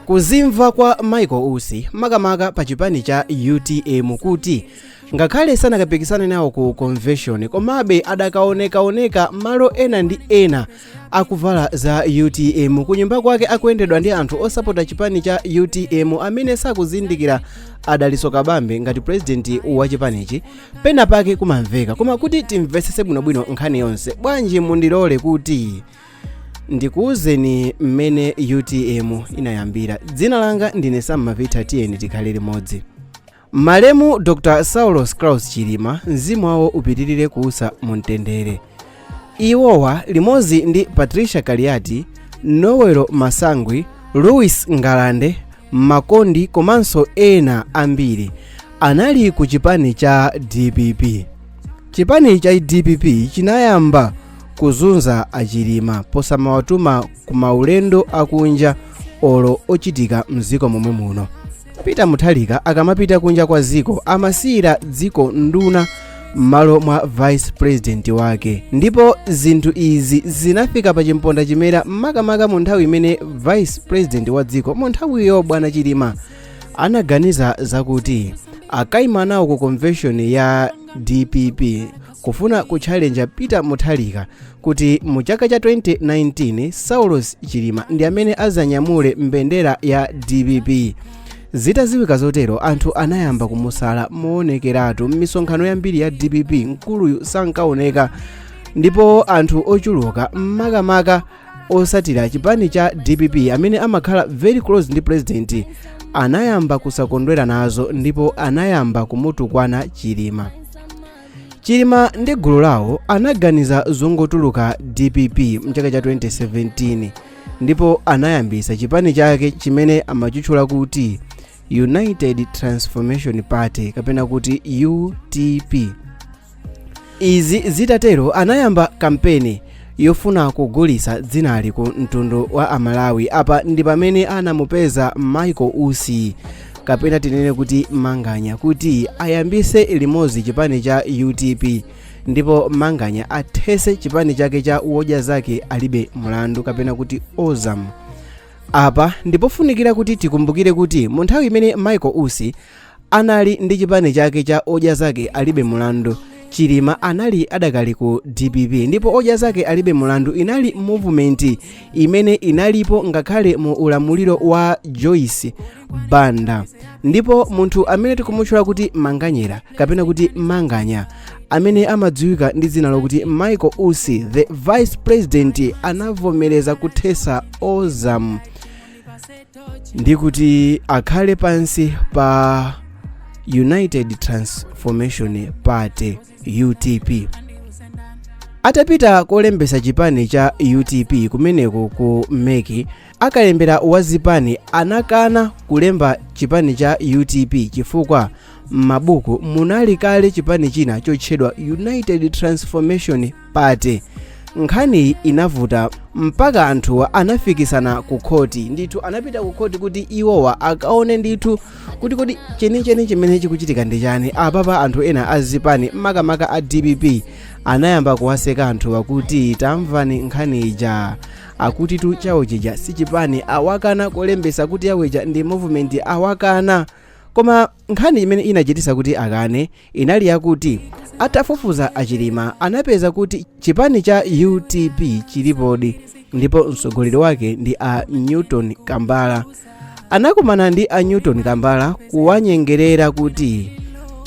kuzimva kwa michael usi makamaka pa chipani cha utm kuti ngakhale sanakapikisane nawo ku convention komabe adakaonekaoneka malo ena ndi ena akuvala za utm kunyumba kwake akuyendedwa ndi anthu osapota chipani cha utm amene sakuzindikira a dalitso kabambe ngati purezidenti wa chipanichi pena pake kumamveka koma kuti timvetsetse bwinobwino nkhani yonse bwanji mundilole kuti ndikuwuzeni mmene utm inayambira dzina langa ndine sam mapita tiyeni tikhale limodzi malemu dr saulos klaus chilima mzimu wawo upitirire kuusa mu mtendere iwowa limodzi ndi patricia kaliati noel masangwi louis ngalande makondi komanso ena ambiri anali ku chipani cha dpp chipani cha dpp chinayamba kuzunza a chilima posamawatuma ku maulendo akunja olo ochitika mziko momwe muno peter mutharika akamapita kunja kwa ziko amasiyira dziko nduna m'malo mwa vice president wake ndipo zinthu izi zinafika pa chimponda chimera makamaka mu nthawi imene vice president wa dziko mu nthawiyo bwana chilima anaganiza zakuti akaima nawo ku convention ya dpp kufuna kutchalenja peter mutharika kuti mu chaka cha 2019 saulos chilima ndi amene azanyamule mbendera ya dpp zitaziwika zotero anthu anayamba kumusala moonekeratu m'misonkhano yambiri ya dpp mkuluyu sankaoneka ndipo anthu ochuluka makamaka osatira chipani cha dpp amene amakhala very close ndi president anayamba kusakondwera nazo ndipo anayamba kumutukwana chilima chilima ndi gulu lawo anaganiza zongotuluka dpp mchaka cha 2017 ndipo anayambisa chipani chake chimene amachitchula kuti united transformation party kapena kuti utp izi zitatero anayamba kampeni yofuna kugulisa dzinali ku mtundu wa amalawi apa ndi pamene anamupeza michael usi kapena tinene kuti manganya kuti ayambise limodzi chipani cha utp ndipo manganya athese chipani chake cha wodya zake alibe mlandu kapena kuti ozam apa ndipofunikira kuti tikumbukire kuti mu nthawi imene michael usi Anali ndi chipani chake cha Odya Zake Alibe Mulandu. Chilima anali adakali ku dpp ndipo Odya Zake Alibe Mulandu inali movement imene inalipo ngakhale mu ulamuliro wa Joyce Banda. Ndipo munthu amene tikumutchula kuti Manganyera kapena kuti Manganya amene amadziwika ndi dzina lokuti Michael Usi the vice president anavomereza kuthesa Ozam ndi kuti akhale pansi pa united transformation party utp atapita kolembesa chipani cha utp kumeneko ku MEC a kalembera wa zipani anakana kulemba chipani cha utp chifukwa m'mabuku munali kale chipani china chotchedwa united transformation party nkhaniyi inavuta mpaka anthuwa anafikisana ku khoti ndithu anapita ku khoti kuti iwowa akaone ndithu kuti kodi chenicheni chimene chikuchitika ndi chani apapa anthu ena a zipani makamaka a dpp anayamba kuwaseka anthuwa kuti tamvani nkhani ija akutitu chawo chija si chipani awakana kolembesa kuti yaweja ndi movement awakana koma nkhani imene inachitisa kuti akane inali yakuti atafufuza a Chilima anapeza kuti chipani cha UTP chilipodi ndipo mtsogoleri wake ndi a Newton Kambala. Anakumana ndi a Newton Kambala kuwanyengerera kuti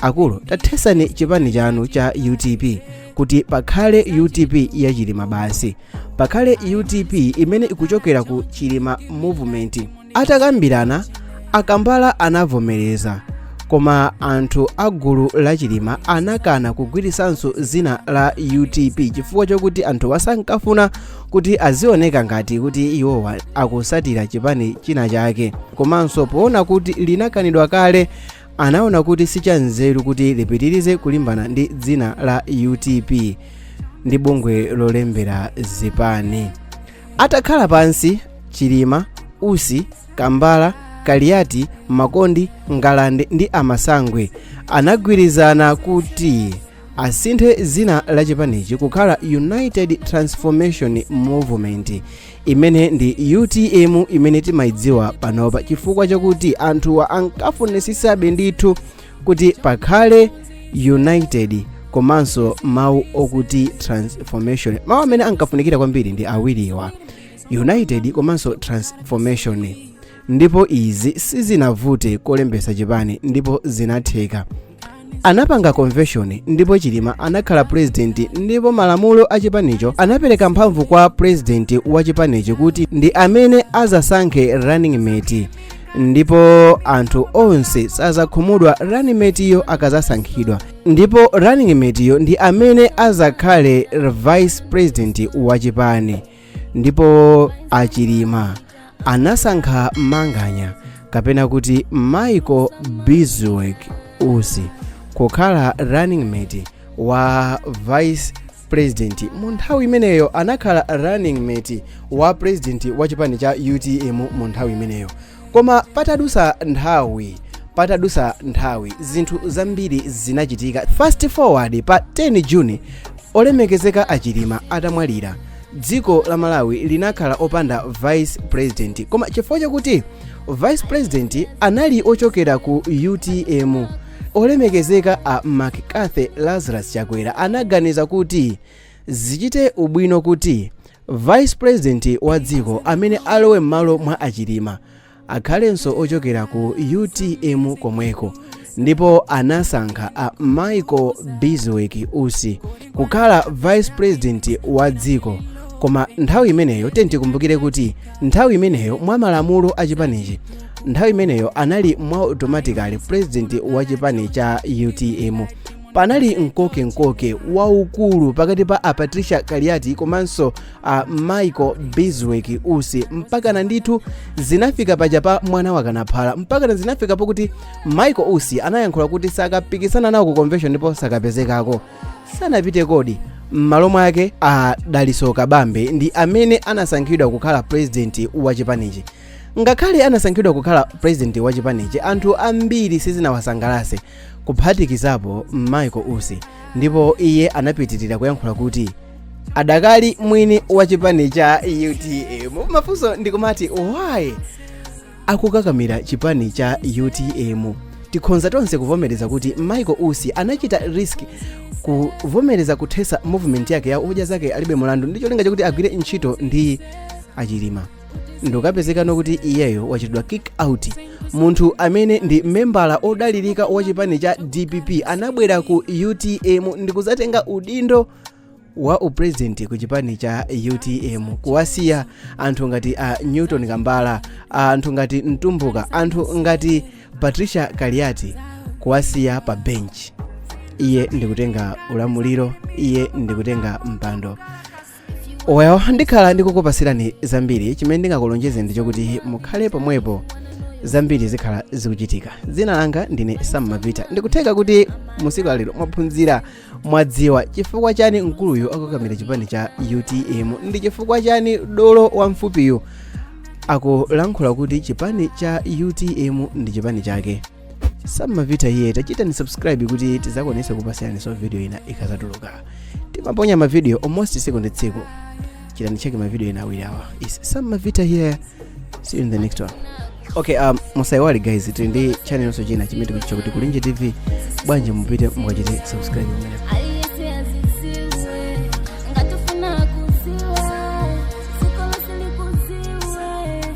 akulu tathesani chipani chanu cha UTP kuti pakhale UTP ya Chilima basi, pakhale UTP imene ikuchokera ku Chilima Movement. Atakambirana, a Kambala anavomereza koma anthu a gulu la Chilima anakana kugwiritsanso dzina la UTP chifukwa chokuti anthuwa sankafuna kuti azioneka ngati kuti iwowa akusatira chipani china chake komanso poona kuti linakanidwa kale anaona kuti sichanzeru kuti lipitirize kulimbana ndi dzina la UTP ndi bungwe lolembera zipani atakhala pansi chilima usi kambala kaliyati makondi ngalande ndi a Masangwi anagwirizana kuti asinthe dzina la chipanichi kukhala united transformation movement imene ndi utm imene timayidziwa panopa chifukwa chakuti anthuwa ankafunisisabe ndithu kuti pakhale united komanso mawu okuti transformation mawu amene ankafunikira kwambiri ndi awiriwa united komanso transformation ndipo izi sizinavute kolembesa chipani ndipo zinatheka anapanga convention ndipo chilima anakhala president ndipo malamulo a chipanicho anapereka mphamvu kwa president wa chipanichi kuti ndi amene azasankhe running mate ndipo anthu onse sazakhumudwa running mate yo akazasankhidwa ndipo running mate yo ndi amene azakhale vice president wa chipani ndipo a Chilima anasankha manganya kapena kuti michael bizwick usi kukhala running mate wa vice pulezidenti mu nthawi imeneyo anakhala running mate wa pulezidenti wa chipani cha utm mu nthawi imeneyo koma patadusa nthawi zinthu zambiri zinachitika fast forward pa 10 juni olemekezeka a chilima atamwalira dziko la malawi linakhala opanda vice president koma chifukwa chakuti vice president anali ochokera ku utm olemekezeka a mccarthy lazarus chakwera anaganiza kuti zichite ubwino kuti vice president wa dziko amene alowe m'malo mwa a chilima akhalenso ochokera ku utm komweko ndipo anasankha a michael bizwick usi kukhala vice president wa dziko koma nthawi imeneyo tiyeni tikumbukire kuti nthawi imeneyo mwa malamulo a chipanichi nthawi imeneyo anali mwa automatically president wa chipani cha utm panali mkoke mkoke waukulu pakati pa a patricia kaliati komanso a michael bizwick usi mpakana ndithu zinafika paja pa mwana wakanaphala mpakana zinafika pokuti michael usi anayankhula kuti sakapikisana nawo ku convention ndipo sakapezekako sanapite ndipo m'malo mwake a dalitso kabambe ndi amene anasankhidwa kukhala purezidenti wa chipanichi ngakhale anasankhidwa kukhala purezidenti wa chipanichi anthu ambiri sizinawasangalase kuphatikizapo michael usi ndipo iye anapitirira kuyankhula kuti adakali mwini wa chipani cha utm mafunso ndikumati why akukakamira chipani cha utm tikhonza tonse kuvomereza kuti michael usi anachita risk kuvomereza kuthesa movement yake ya odya zake alibe mulandu ndi cholinga chakuti agwire ntchito ndi a chilima ndikupezekano kuti iyeyo wachitidwa kick out munthu amene ndi membala odalirika wa chipani cha dpp anabwera ku utm ndikuzatenga udindo wa upresident ku chipani cha utm kuwasiya anthu ngati a newton kambala anthu ngati mtumbuka anthu ngati patricia kaliati kuwasiya pa bench iye ndikutenga ulamuliro iye ndikutenga mpando well ndikhala ndikukupasirani zambiri chimene ndingakulonjeze ndi chokuti mukhale pomwepo zambiri zikhala zikuchitika dzina langa ndine sam mavita ndikutheka kuti mu tsiku lalero mwaphunzira mwadziwa chifukwa chani mkuluyu akukakamira chipani cha utm ndi chifukwa chani dolo wamfupiyu akulankhula kuti chipani cha utm ndi chipani chake sam mavita here tachitani subscribe kuti tizakwanise kupasiraniso video ina ikazatuluka timaponya mavideo almost tsiku ndi tsiku chitani check mavideo ina awiri awa it's sam mavita here see you in the next one okay um, musaiwali guys tili ndi channelso china chimene tikuchitcha kuti kulinji tv bwanji mupite mukachite subscribe pamenepo aliyese aziziwe ngati ufuna kuziwa sikolo silikuziwe